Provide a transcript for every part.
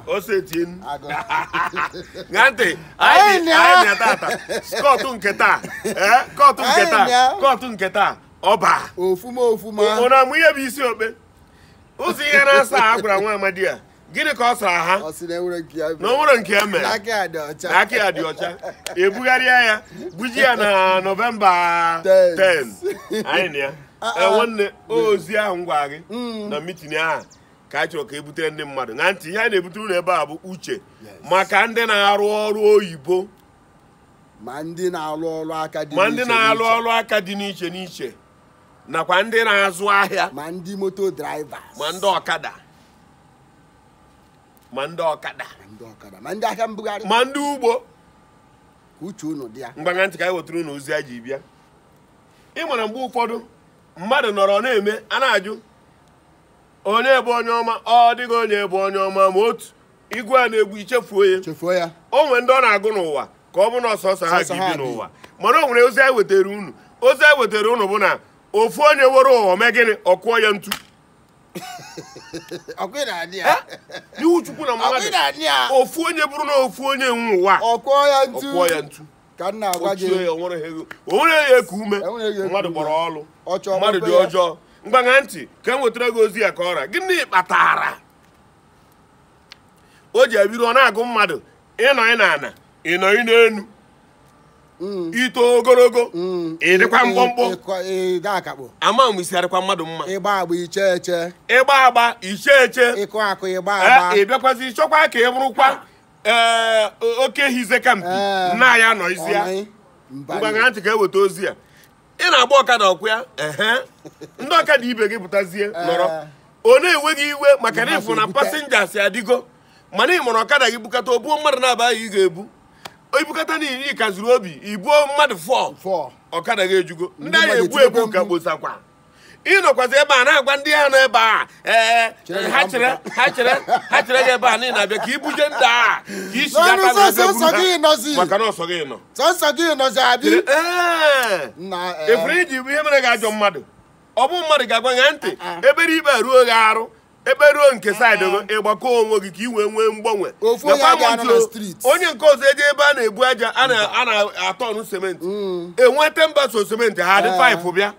osetien ṅa ntị anyị na tata kọtụ nke taa kọtụ nke taa kọtụ nke taa ọba ofuma ofuma ụna mụ ihe bụ isi ikpe ụzọ ihe na-asa a gwara nwa amadi a gịnị ka ọ sara ha ọ sị na enwerọ nke ya na o nwerọ nke ya mere na aka ya dị ọcha na aka ya dị ọcha e bugharịa ya buje ya na nọvemba 10 Ten. anyị na ya Ah, Eh, ah. nwanne ozi ahụ m gwara gị Mm. na mitin ahụ ka a chọrọ ka e butere ndị mmadụ na ntị ihe a na-ebutere unu ebe a bụ uche Yes. maka ndị na-arụ ọrụ oyibo ma ndị na-arụ ọrụ aka dị ma ndị n'iche na-arụ n'iche, ọrụ aka dị n'iche n'iche nakwa ndị na-azụ ahịa ma ndị moto drivers ma ndị ọkada ma ndị ọkada ma ndị ọkada ma ndị ahịa mbugharị ma ndị ugbo ka uche unu dị ya mgbagha ntị ka anyị wetara unu ozi a ji bịa ị mara mgbe ụfọdụ mmadụ nọrọ na-eme a na-ajụ onye bụ onye ọma ọ dịghị onye bụ onye ọma ma otu ị gụọ ya n'egwu i chefuo ya chefuo ya o nwere ndị ọ na-agụ n'ụwa ka ọ bụ na ọ sọsọ ha Sọsọ ha ga-ebi bi. n'ụwa mana o nwere ozi anyị wetara unu ozi anyị wetara unu bụ na ofu onye were ụwa mee gịnị ọ kụọ ya ntu n'iwu chukwu na mmadụ ofu onye bụrụ na ofu onye nwe ụwa ọ kụọ ya ntu ka m na-agwa gị o nwere ya eku ume mmadụ gbọrọ ọlụ mmadụ dị ọjọọ mgbagha ntị ka m wetara gị ozi a ka ọra gịnị kpatara o ji abụrụ ọ na-agụ mmadụ ịnọ ị n'ana ịnọ ị n'enu Mm. ito ogologo mm. ịdịkwa mkpụmkpụ ama m isi adịkwa mmadụ mma ịgba agba iche eche ịgba agba iche eche ịkụ akụ ịgba eh, agba ịbịakwazi chọkwa ka ị bụrụkwa eh, oke hize kampi eh. na ya nọ isi ya mgbagha ntị ka e weta ozi a ị na-agba ọkada ọ kwa ya ndị ọkada ibe gị pụtazie nọrọ ọ na-ewe gị iwe maka na ị fụ na pasenjas adịgo mana ị mara ọkada gị bukata o buo mmadụ naabọ ka ị ga-ebu i bukata na iri kaziri obi i buo mmadụ 4 ọkada gị ejugo ndị a ga-ebu ebu ka kposakwa ị nọkwazi ebe a na-agwa ndị ha nọ ebe a ee ha chere ha chere ha chere gị ebe a niile abịa ka i buje ndị a ka isi ya maka na ọ sọ gị nọ sọsọ gị nọzi adị efere iji ihe mere gị ajọ mmadụ ọ bụ mmadụ ga-agwa gị ntị ah, ah. ebere e kperuo gị arụ e kperuo nke ah. saịdị gị ị gbakọ onwe gị ka ị wee nwee mgbanwe onye nke ọzọ eje ebe a na-ebu aja a na-atọ ọnụ sementi mm. enweta mba so sementi ha dị eh. 5 bịa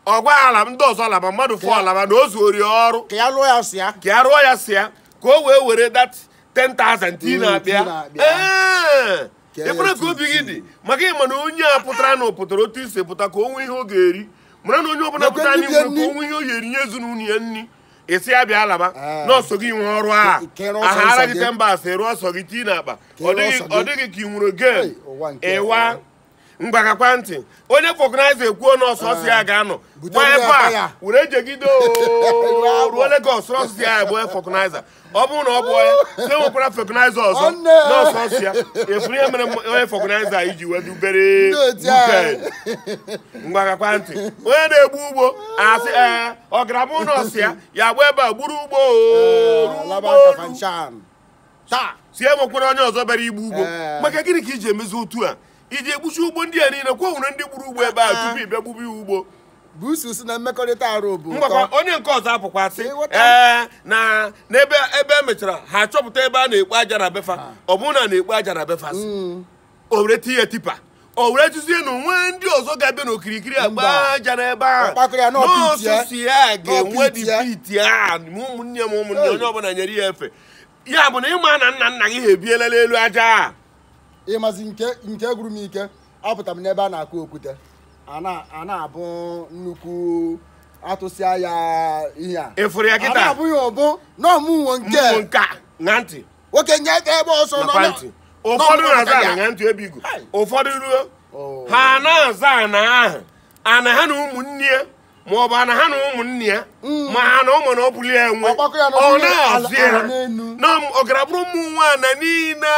ọ gwa ha na ndị ọzọ alaba mmadụ 4 alaba na o zuori ọrụ ka ya rụọ ya sọ ya ka o wee were that 10,000 tii n'akpa ya ee i kwere ka obi gị dị maka ị ma na onye a pụtara na ọ pụtara otu i si pụta ka o nwee ihe ọ ga-eri mara na onye ọbụla pụta anyị nwere ka o nwee ihe ọ ga-eri nye ezinụlọ ya nri anyasị abịa alaba ah. na ọ sọ gị nwe ọrụ a aghara gị temba asị rụọ ọsọ gị tii n'akpa ọ dị gị ka ị nwere gen ịwa ngwa gekwa ntị onye vulcanizer ekwuo na ọ sọsọ ya ah. ga-anọ gbaa ebe a were jegide ruo Lagos ọ sọ ya bụ vulcanizer ọ bụrụ na ọ bụ ya sị enwekwara vulcanizer ọzọ na ọ sọsọ ya ị fụrụ ihe mere onye vulcanizer ji wee dubere ngwa gekwa ntị onye na-egbu ugbo asị ee ọ gara bụ na ọ sọ ya ya gba ebe a gburu ugbo sị enwekwara onye ọzọ bịara igbu ugbo maka gịnị ka i ji emezi otu a i ji egbusi ugbo ndị a niile ọkwa e nwere ndị gburu ugbo ebe a ah. tupu ị bịa gbube ugbo busu si na mmekọrịta arụ bụ ngwakwa onye nke ọzọ apụkwa sị ee eh, na n'ebe ebe e mechara ha achọpụta ebe a na-ekpo aja na be fa ah. ọ bụrụ na na-ekpo aja na be fa hmm. o were tinye tipper o were tụzie na o nwe ndị ọzọ ga-abịa n'okirikiri a gba aja n'ebe ahụ na ọ sọsọ ya ga-enwe the pit a ụmụnne m ụmụnne onye ọbụla nyere ya efe ya bụ na ị ma na nna nna gị ha ebiela n'elu aja a ị mazi nke nke gwuru m ike apụta m n'ebe a na-akụ okwute a na- a na-abụ nnukwu atụsịa ya ihe a ị fụrụ ya a kịta na-abụ ya ọ bụ na ọmụnwo nke mmụọ nke a na ntị nwoke nye aka ebe ọsọ nọ nakwa na- ntị nọ ụfọdụ n'ụlọ na-azọ ya. ana na ntị ebe igu ụfọdụ ruo Oh. ha na-azọ ana ahụ ana ha na ụmụnne ya ma ọ bụ ana ha na ụmụnne ya mm. ma ha na ụmụnna ọbụla nwe ọ na-azọ ya na ọ gara bụrụ ụmụ nwaanyị niile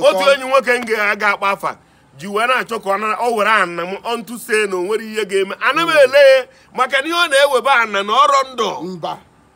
otu enyi nwoke m ga-aga akpa afa ji wee na-achọ ka ọ were ana m ọntụ se na o nwere ihe ga-eme ana m mm. ele ya maka na ihe ọ na-ewebe ana na ọrọ ndụ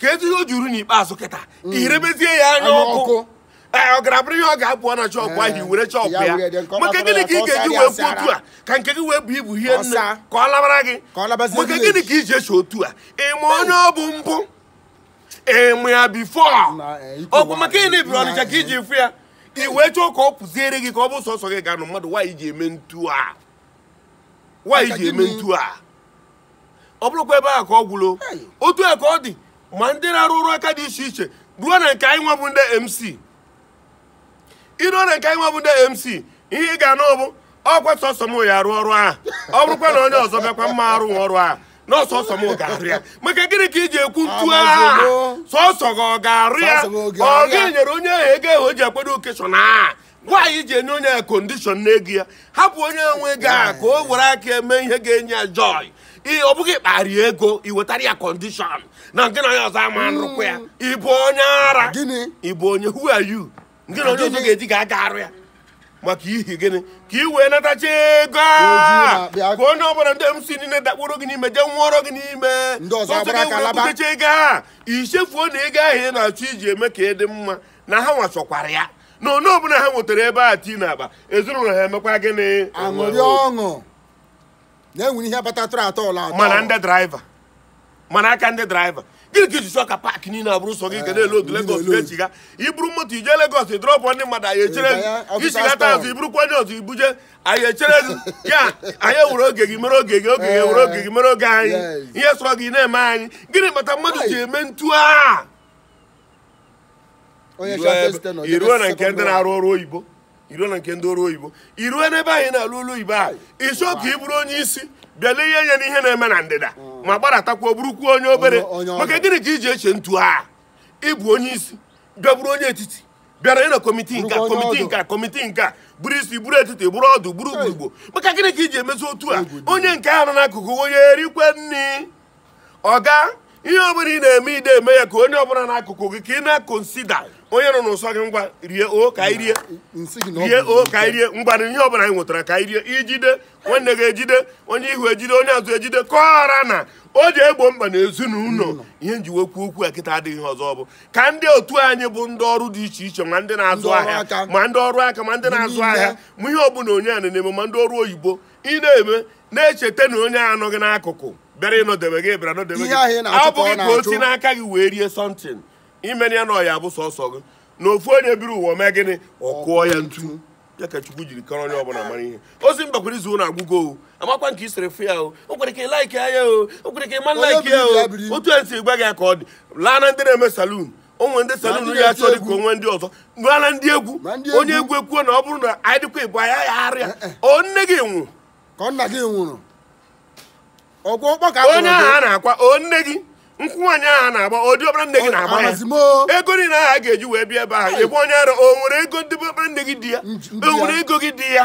ka etu ihe o juru n'ikpeazụ kịta mm. i rebezie ya anya ọkụ ọ gara bụrụ ihe ọ ga-apụ na shop ahụ eh, were chụpụ ya maka gịnị ka ị ga-eji wee kwuo otu a ka nke gị wee buo ibu ihe niile ka ọ labara gị maka gịnị ka i ji eche otu a ị ma onye ọ bụ mbụ ị ma ya before eh, ọkwa maka ị na-ebiri Ọnịcha ka i ji fụ ya i wee chọọ ka ọ pụziere gị ka ọ bụ sọsọ gị ga-anọ mmadụ nwaanyị ji eme ntu a nwaanyị ji eme ntu a ọ bụrụkwa ebe ahụ ka ọ gwụlo otu a ka ọ dị ma ndị na-arụ ọrụ aka dị iche iche ruo na nke anyị nwa bụ ndị mc i ruo na nke anyị nwa bụ ndị mc ihe ị ga-anụ bụ ọkwa sọsọ m ya arụ ọrụ ahụ ọ bụrụkwa na onye ọzọ bịakwa m ma arụ ọrụ ahụ na ọ sọsọ m ga-arụ ya maka gịnị ka i ji ekwu ntu ahụ sọsọ gị ọ ga-arụ ya ọ gị nyere onye ahụ ego ahụ o ji akwado occasion ahụ nwaanyị ji enye onye ya kondishọn n'ego ya hapụ onye nwe ego a ka o were aka eme ihe ga-enye ya joy ọ bụ gị kpara ego iwetara ya kọndishọn na nke na onye ọzọ ama arụkwa ya hmm. ịbụ onye ara ịbụ onye who are you nke na onye ọzọ ga-eji ga aga arụ ya maka ihi gịnị ka ị wee natacha ego a ka onye ọbụla ndị mc niile dakpụrụ gị n'ime jee nwụọrọ gị n'ime ibutecha ego a ichefuo na ego ahụ ị na-achọ iji eme ka ị dị mma na ha nwachọkwara ya na onye ọbụla ha nwetara ebe a tii n'akpa ezinụlọ ha emekwa gịnị aṅụrịa ọṅụ na e nwere ihe batatụrụ atọ ụlọ atọ mana ndị draiva mana aka ndị draiva gịnị ka iji chọọ ka paakị niile abụrụ sọ gị ga na-eloodu Lagos ga-echigha iburu moto ije Lagos drọpụ ndị mmadụ anyị echere gị ichighata azụ iburukwa onye ọzọ ibuje anyị echere gị ya anyị ewere oge gị mere oge gị oge gị ewere oge gị mere oge anyị ihe sọrọ gị na-eme anyị gịnị kpata mmadụ ji eme ntu a iruo na nke ndị na-arụ ọrụ oyibo iruo na nke ndị ọrụ oyibo iruo n'ebe anyị na-arụ ọrụ oyibo ahụ ịchọ ka ị bụrụ onye isi bịala ihe nye n'ihe na-eme na ndịda mm. ma gbadatakwa bụrụkwuo onye obere maka gịnị ka iji eche ntu a ịbụ onye isi bịa bụrụ onye etiti bịara ịnọ kọmitii nke kọmitii nke kọmitii nke bụrụ isi bụrụ etiti bụrụ ọdụ bụrụ ugbo maka gịnị ka iji emezi otu a onye nke ahụ nọ n'akụkụ onye erikwe nri ọga ihe ọbụla ị na-eme ide eme ya ka onye ọbụla n'akụkụ gị ka ị na-akonsida onye nọ n'ụsọ gị ngwa rie o ka anyị rie rie o ka anyị rie ngwanụ ihe ọbụla anyị nwetara ka anyị rie ijide nwanne gị ejide onye ihu ejide onye azụ ejide kọọra na o ji egbo mkpa na ezinụlọ ihe nji wee ekwu okwu a kịta adịghị ihe ọzọ ọ bụ ka ndị otu anyị bụ ndị ọrụ dị iche iche ma ndị na-azụ ahịa ma ndị ọrụ aka ma ndị na-azụ ahịa ma ihe ọbụla onye a na-eme ma ndị ọrụ oyibo ị na-eme na-echeta na onye a nọ gị n'akụkụ bịara ịnọdebe gị bịara nọdebe gị ọ bụghị ka o si n'aka gị wee rie sọntin imere ya na ọ ya-abụ sọsọ gị na ofu onye biri ụwa mee gịnị ọ kụọ ya ntu ya ka chukwu jiri kọrọ onye ọbụla mara ihe ozi mbakwara izu na agụgọ o amakwa nke isere fụ ya o o kwere ka ị laiki ya o o kwere ka ị ma laiki ya o otu e si gwa gị ya ka ọ dị laa na ndị na-eme salun onwe ndị salon ya achọ dịka onwe ndị ọzọ laa na ndị egwu onye egwu ekwuo na ọ bụrụ na anyị dịkwa ịbụ anya ya arịa eh, eh. ọ nne gị nwụrụ ka nna gị nwụrụ onye ahụ a na-akwa ọ nne gị nkwụ nwaanyị ahụ na-agba ọ ndị ọbara nne gị na-agba ya ego niile ahụ a ga-eji wee bịa ebe ahụ ịbụ onye ara o nwere ego ndị ọbara nne gị dị ya o nwere ego gị dị ya